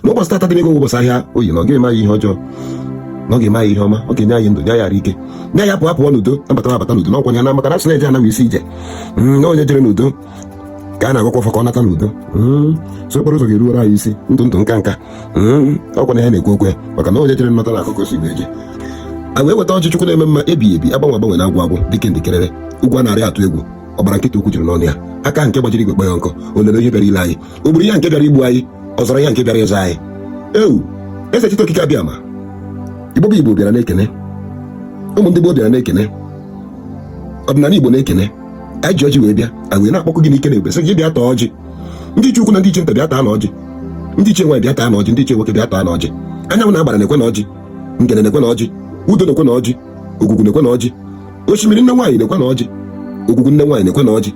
n'ụbọchị tata dị n'ego ụbọchị ahịa oye na ọ gaghị eme anyị ihe ọjọọ na ọ ga-eme anyị ihe ọma ọ ga-enye anyị ndụ nye anyị arụ ike nye anyị pụọ apụọ n'udo nabata nabata n'udo n'ọkwa ya na maka na a sị na eje ana bụ isi ije hmm, na onye jere n'udo ka a na-agọkwa ọfọ ka ọ nata n'udo hmm, so okporo ụzọ ga-eruwere anyị isi ndụ ndụ nka nka hmm, ọkwa na ya na-ekwu okwu maka na onye jere nata na-akọ ka o si eje a wee weta ọjị chukwu na-eme mma ebighị ebi agbanwe agbanwe na agwụ agwụ dike ndị kerere ụgwọ narị atụ egwu ọgbara nkịtị okwu juru n'ọnụ ya aka nke gbajiri igwe kpọọ ya nkụ o lere ihe bịara ile anyị o gburu ya nke bịara igbu anyị ọ zọrọ ya nke bịara ịzọ anyị ewo eze chite okike abiama igbo bụ igbo bịara na-ekene ụmụ ndị igbo bịara na-ekene ọdịnala igbo na-ekene anyị ji ọjị wee bịa anyị wee na-akpọku gị n'ike na ebube sị gị bịa taa ọjị ndị ichie ukwu na ndị ichie nta bịa taanụ ọjị ndị ichie nwaanyị bịa taanụ ọjị ndị ichie nwoke bịa taanụ ọjị anyanwụ na agbara nekwenụ ọjị ngene nekwenụ ọjị udo nekwenụ ọjị ogwugwu nekwenụ ọjị osimiri nne nwaanyị nekwenụ ọjị ogwugwu nne nwaanyị nekwenụ ọjị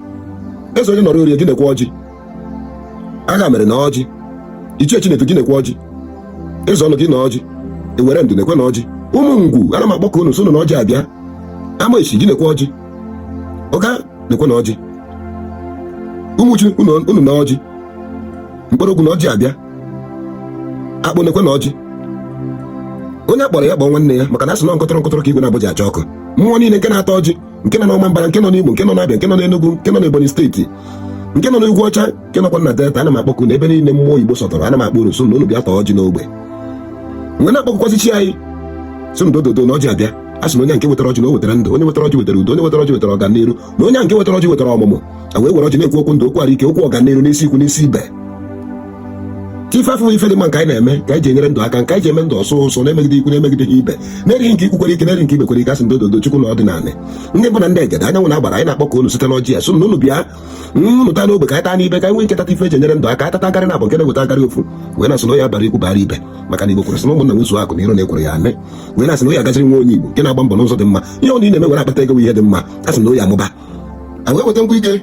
eze onye nọrọ orie gị nekwa ọjị agha mere na ọjị ichie chinedu gị nekwa ọjị eze ọnụ gị na ọjị ewere ndụ nekwenụ ọjị ụmụ ngwu ana m akpọku unu sị na ọjị abịa amesi gị nekwa ọjị uga nekwenụ ọjị umuchu unu na ọjị nkpologwu na ọjị abịa akpo nekwenụ ọjị onye a kpọrọ ya kpọọ nwanne ya maka na a sị na nkọtọrọ nkọtọrọ ka igwe naabọ ji acha ọkụ mmụọ niile nke na-ata ọjị nke nọ n'Ọmambara nke nọ n'Imo nke nọ n'Abịa nke nọ n'Enugu nke nọ n'Ebonyi steeti nke nọ n'ugwu ọcha nke nọkwa na delta ana m akpọku na ebe niile mmụọ Igbo sọtọrọ ana m akpọ unu sị na unu bịa taa ọjị n'ogbe m wee na-akpọkukwazị chi anyị sị na dododo na ọjị abịa a sị na onye nke wetara ọjị na o wetara ndụ onye wetara ọjị wetara udo onye wetara ọjị wetara ọganiru na onye nke wetara ọjị wetara ọmụmụ a wee were ọjị na-ekwu okwu ndụ okwu arụ ike okwu ọganiru n'isi ikwu n'isi ibe ife afụ ife dị mma nke anyị na-eme ka anyị ji enyere ndụ aka nke anyị ji eme ndụ ụsọ ụsọ na-emegideghị ikwu na-emegideghị ibe na-erighị nke ikwu kwere ike na-erighị nke ibe kwere ike a sị dododo chukwu na ọdịnala ndị mbụ na ndị egede anyanwụ na agbara anyị na-akpọku unu site n'ọjị a sị na unu bịanụ taa n'ogbe ka anyị taa n'ibe ka anyị nwee ike tata ife e ji enyere ndụ aka atata garị na abụ nke na-eweta garị ofu wee na-asị na ọ ya-abara ikwu bara ibe maka na igbo kwuru sị na ụmụnna nwezuo akụ na iro na ekworo ya-ana e wee na-asị na ọ ya-agaziri nwa onye igbo nke na-agba mbọ n'ụzọ dị mma ihe ọ na-eme were akpata ego ihe dị mma a sị na ọ ya-amụba a wee weta nkwa ike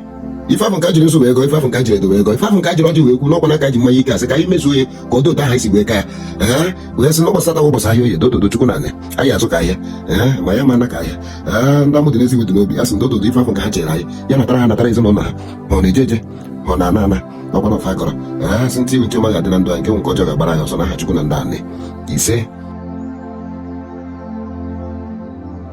ife afụ nke e jiri nzu wee gọọ ife afụ nke e jiri edo wee gọọ ife afụ nke e jiri ọjị wee kwu n'ọkwa n'aka ji mmanya ike a sị ka anyị mezuo ya ka ọ dị otu ahụ anyị si wee kaa ya ee wee sị n'ụbọchị tata ụbọchị ahịa oye dododo chukwu na anị anyị azụ ka ahịa ee ma ya ma ana ka ahịa ee ndị amụ dị n'eze iwe dị n'obi a sị dododo ife afụ nke ha chere anyị ya natara ha natara ezinụlọ ha ma ọ na-eje eje ma ọ na-ana ana ọkwa na ọfọ a gọrọ ee sị nke wụ nke ọma ga-adị na ndụ anyị nke wụ nke ọjọọ ga-agbara anyị ọsọ n'aha chukwu na ọdịnanị ise